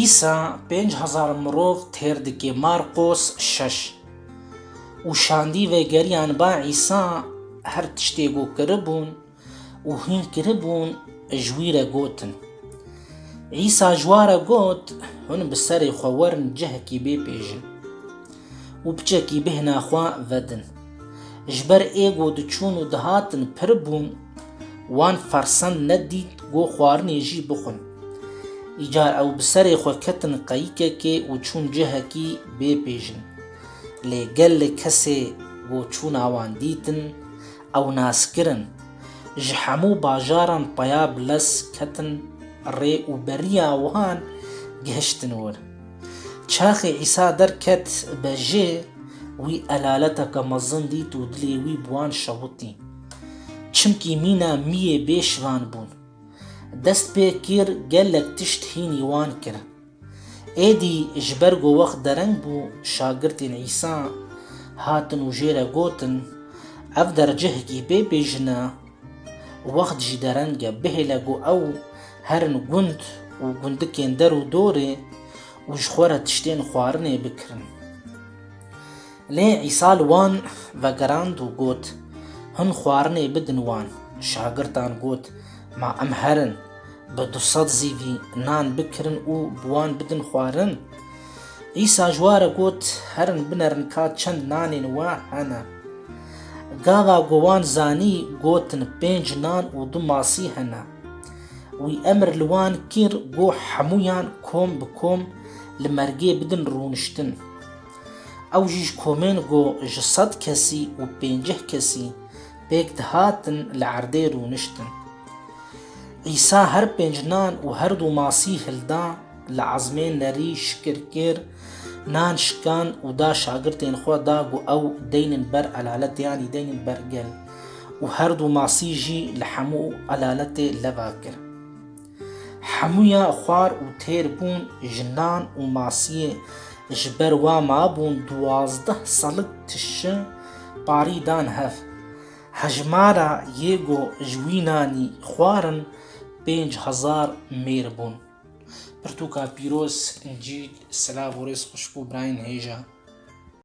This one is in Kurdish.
Îsa pênc hezar mirov têr dike, Marqos şeş. Û şandî vegeriyan ba Îsa her tiştê ku kiribûn û hîn kiribûn ji wî re gotin. Îsa ji wan re got, Hûn bi serê xwe werin cihekî bê pêjin. û piçekî bêhna xwe vedin. Ji ber ê ku diçûn û dihatin pir bûn, wan fersend nedît ku xwarinê jî bixwin. Îcar ew bi serê xwe ketin qeyikekê û çûn cihekî bê pêjin. Lê gelek kesê ku çûna wan dîtin, ew nas kirin. Ji hemû bajaran peya bi lez ketin rê û beriya wan gihiştin wir. Çaxê Îsa derket bejê, wî elaleteke mezin dît û dilê wî bi wan şewitî. Çimkî mîna mîyê bê şivan bûn. Dest pê kir gelek tişt hînî wan kir. Êdî ji ber ku wext dereng bû, şagirtên Îsa hatin û jê re gotin, Ev dercehekî bê bêjin e. Wext jî dereng e bihêle ku ew herin gund û gundikên der û dorê û ji xwe re tiştên xwarinê bikirin. Lê Îsa li wan vegerand û got, Hûn xwarinê bidin wan. Şagirdan got, Ma em herin bi du sed zîvî nan bikirin û bi wan bidin xwarin? Îsa ji we re got, Herin binerin ka çend nanên we hene. Gava ku wan zanî, gotin, Pênc nan û du masî hene. Wî emir li wan kir ku hemûyan kom bi kom li mergê bidin rûniştin. Ew jî ji komên ku ji sed kesî û pêncîh kesî pêk dihatin li erdê rûniştin. Îsa her pênc nan û her du masî hilda, Li Ezmê nerî şikir kir, nan şikand û da şagirtên xwe da ku ew deynin ber elalete yanî deynin ber gel û herdu masî jî li hemû elaletê leba kir. Hemûya xwar û têr bûn ji nan û masiyê ji ber wa mabûn duwazdeh selik tişi parî dan hev. Hejmara yê ku ji wî nanî xwarin pênc hezar mêr bûn. Pirtûka pîroz, Încîl, silav û rêz xweşik û birayên hêja.